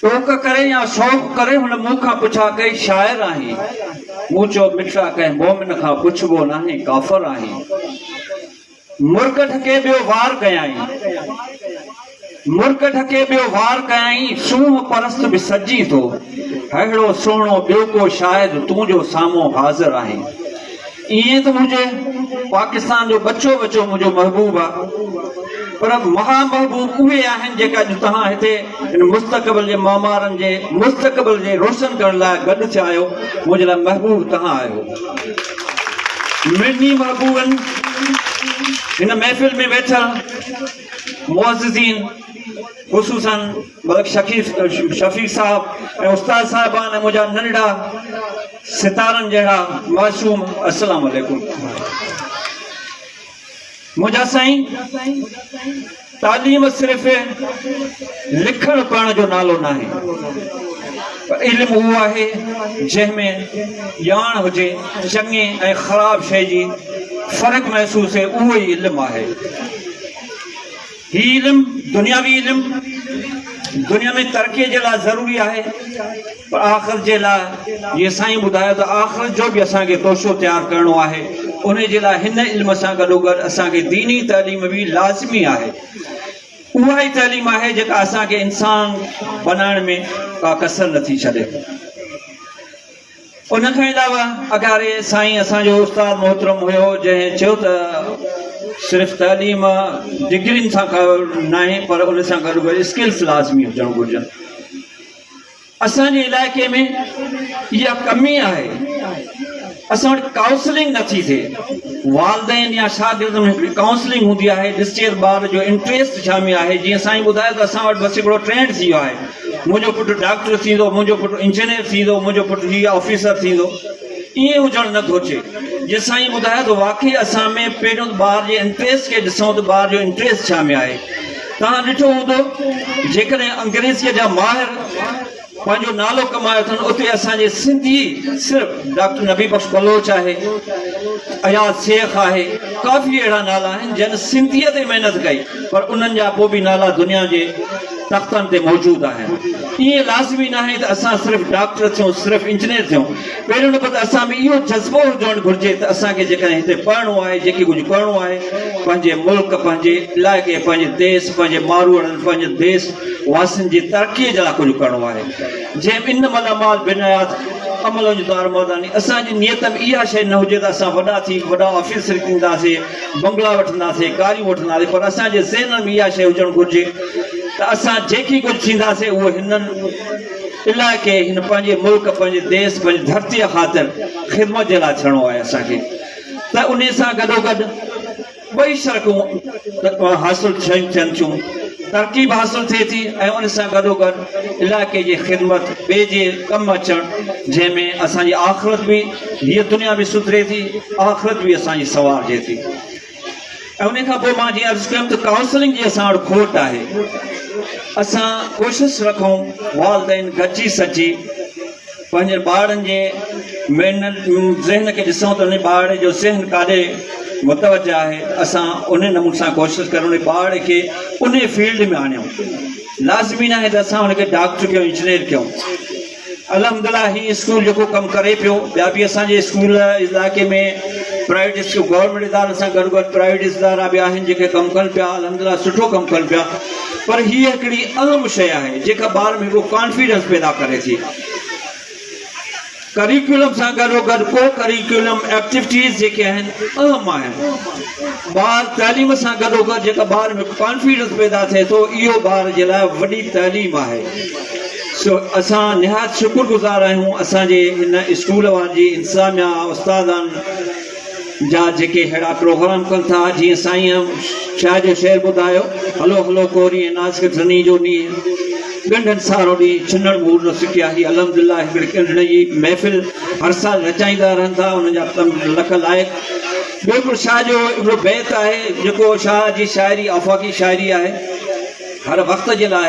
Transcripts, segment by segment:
ٽوڪ ڪري يا شوق ڪري هن مون کان پڇا ڪئي شاعر آهين؟ مون چيو مٺڙا ڪنهن مومن کان پڇبو ناهي ڪافر آهين. مرڪ ڍڪي ٻيو وار ڪيائين. مرڪ ڍڪي ٻيو وار ڪيائين سونهن پرست به سڏجين ٿو. ههڙو سهڻو ٻيو ڪو شاعر تون جو سامهون حاضر آهين. ائين ته هجي پاڪستان جو ٻچو ٻچو منهنجو محبوب آ پر مها محبوب اهي آهن جيڪا اڄ توهان هتي هن مستقبل جي معمارن جي مستقبل جي روشن ڪرڻ لاء گڏ ٿيا آهيو منهنجي لاء محبوب توهان آهيو منهنجي محبوبن هن محفل ۾ ويٺل معززين خصوصا ملڪ شفيق صاحب ۽ استاد صاحبان ۽ منهنجا ننڍا ستارن جهڙا معصوم اسلام عليڪم منهنجا سائين تعليم صرف لکڻ پڙهڻ جو نالو ناهي علم اهو آهي جنهن ۾ ڄاڻ هجي چڱي ۽ خراب شي جي فرق محسوس اهو ئي علم آهي هي علم دنياوي علم دنيا ۾ ترقي جي لاء ضروري آهي پر آخرت جي لاء جي سائين ٻڌايو ته آخرت جو به اسان کي توشو تيار ڪرڻو آهي ان جي لاء هن علم سان گڏو گڏ اسان کي ديني تعليم به لازمي آهي اها ئي تعليم آهي جيڪا اسان کي انسان بنائڻ ۾ ڪا ڪسر نٿي ڇڏي ان کان علاوه اگهاڙي سائين اسان جو استاد محترم هيو جنهن چيو ته صرف تعليم ڊگرين سان ڪا ناهي پر ان سان گڏ گڏ اسڪلس لازمي هجڻ گهرجن اسان جي علائقي ۾ اها ڪمي آهي اسان وٽ ڪائونسلنگ نٿي ٿئي والدين يا شاگرد ۾ هڪڙي ڪائونسلنگ هوندي آهي ڏسجي ته ٻار جو انٽريسٽ ڇا ۾ آهي جيئن سائين ٻڌايو ته اسان وٽ بس هڪڙو ٽرينڊ ٿي ويو آهي منهنجو پٽ ڊاڪٽر ٿيندو، منهنجو پٽ انجنيئر ٿيندو، منهنجو پٽ هي آفيسر ٿيندو. ائين هجڻ نه گهرجي. جي سائين ٻڌايو ته واقعي اسان ۾ پهريون ته ٻار جي انٽريسٽ کي ڏسون ته ٻار جو انٽريسٽ ڇا ۾ آهي. توهان ڏٺو هوندو جيڪڏهن انگريزيء جا ماهر پنهنجو نالو ڪمايو اٿن اتي اسان جي سنڌي صرف ڊاڪٽر نبي بخش بلوچ آهي، اياز شيخ آهي، ڪافي اهڙا نالا آهن جن سنڌيء تي محنت ڪئي پر انهن جا پوء به نالا دنيا جي تختن تي موجود آهن. ائين لازمي ناهي ته اسان صرف ڊاڪٽر ٿيون، صرف انجنيئر ٿيون. پهريون نمبر ته اسان ۾ اهو جذبو هجڻ گهرجي ته اسان کي جيڪڏهن هتي پڙهڻو آهي، جيڪي ڪجهه ڪرڻو آهي، پنهنجي ملڪ، پنهنجي علائقي، پنهنجي ديس، پنهنجي ماروئڙن، پنهنجي ديس واسين جي ترقيء جي لاء ڪجهه ڪرڻو آهي. جنهن ۾ انما الاعمال بالنيات عمل وڃ دار مرداني. اسان جي نيت ۾ اها شيء نه هجي ته اسان وڏا ٿي وڏا آفيسر ٿينداسين. بنگلا وٺنداسين، ڪاريون وٺنداسين پر اسان جي ذهنن ۾ اها شيء هجڻ گهرجي ته اسان جيڪي ڪجهه ٿينداسين اهو هنن علائقي، هن پنهنجي ملڪ، پنهنجي ديس، پنهنجي ڌرتيء خاطر خدمت جي لاء ٿيڻو آهي اسان کي ته انهي سان گڏوگڏ ٻئي شرڪون حاصل ٿين ٿين ٿيون، ترقي به حاصل ٿئي ٿي ۽ ان سان گڏوگڏ علائقي جي خدمت ٻئي جي ڪم اچڻ جنهن ۾ اسان جي آخرت به. هيء دنيا به سڌري ٿي، آخرت به اسان جي سنوارجي ٿي. ۽ انهيء کان پوء مان جيئن عرض ڪيم ته ڪائونسلنگ جي اسان وٽ کوٽ آهي. اسان ڪوشش رکون والدين گڏجي سڏجي پنهنجي ٻارڙن جي مينٽل ذهن کي ڏسون ته انهي ٻارڙي جو ذهن ڪاڏي متوجه آهي، اسان انهي نموني سان ڪوشش ڪريون انهي ٻارڙي کي انهي فيلڊ ۾ آڻيون. لازمي ناهي ته اسان ان کي ڊاڪٽر ڪيون، انجنيئر ڪيون. الحمدلله هي اسڪول جيڪو ڪم ڪري پيو ٻيا به اسان جي اسڪول علائقي ۾ پرائيويٽ اسڪول گورنمينٽ ادارن سان گڏ گڏ پرائيويٽ ادارا به آهن جيڪي ڪم ڪن پيا الحمدلله سٺو ڪم ڪن پيا پر هي هڪڙي اهم شيء آهي جيڪا ٻار ۾ هڪڙو ڪانفيڊنس پيدا ڪري ٿي ڪريڪولم سان گڏو گڏ ڪو ڪريڪولم ايڪٽيوٽيز جيڪي آهن اهم آهن ٻار تعليم سان گڏو گڏ جيڪا ٻار ۾ ڪانفيڊنس پيدا ٿئي ٿو اهو ٻار جي لاء وڏي تعليم آهي اسان نهايت شڪر گذار آهيون اسان جي هن اسڪول وارن جي انتظاميا استادن جا جيڪي ههڙا پروگرام ڪن ٿا جيئن سائين شاهه جو شعر ٻڌايو هلو هلو ڪوري ۽ نازڪ ڌني جو نينهن ڳنڍن سارو ڏينهن ڇنڻ مور نه سڪي آهي الحمدلله هڪڙي ڳنڍڻ جي محفل هر سال رچائيندا رهن ٿا انهن جا تن لک لائق ٻيو هڪڙو شاهه جو هڪڙو بيت آهي جيڪو شاهه جي شاعري آفاقي شاعري آهي هر وقت جي لاء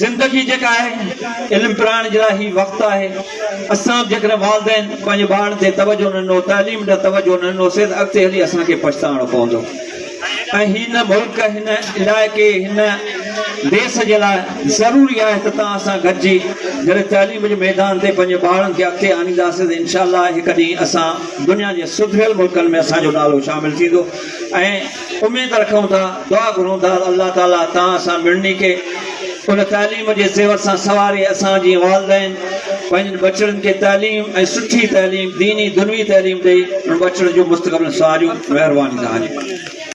زندگي جيڪا آهي علم پراڻ جي لاء هي وقت آهي اسان به جيڪڏهن والدين پنهنجي ٻارن تي توجه نه ڏنو تعليم ڏي توجه نه ڏنو سي ته اڳتي هلي اسان کي پڇتاڻو پوندو ۽ هن ملڪ هن علائقي هن ديس جي لاء ضروري آهي ته تان اسان گڏجي جڏهن تعليم جي ميدان تي پنهنجي ٻارن کي اڳتي آڻينداسي ته انشاء الله هڪ ڏينهن اسان دنيا جي سڌريل ملڪن ۾ اسان جو نالو شامل ٿيندو ۽ اميد رکون ٿا، دعا گهرون ٿا ته الله تعالي توهان سان مڙني کي ان تعليم جي زيور سان سنواري اسان جي والدين پنهنجن ٻچڙن کي تعليم ۽ سٺي تعليم ديني دنوي تعليم ڏئي ان ٻچڙن جو مستقبل سنواريون مهرباني توهان جي.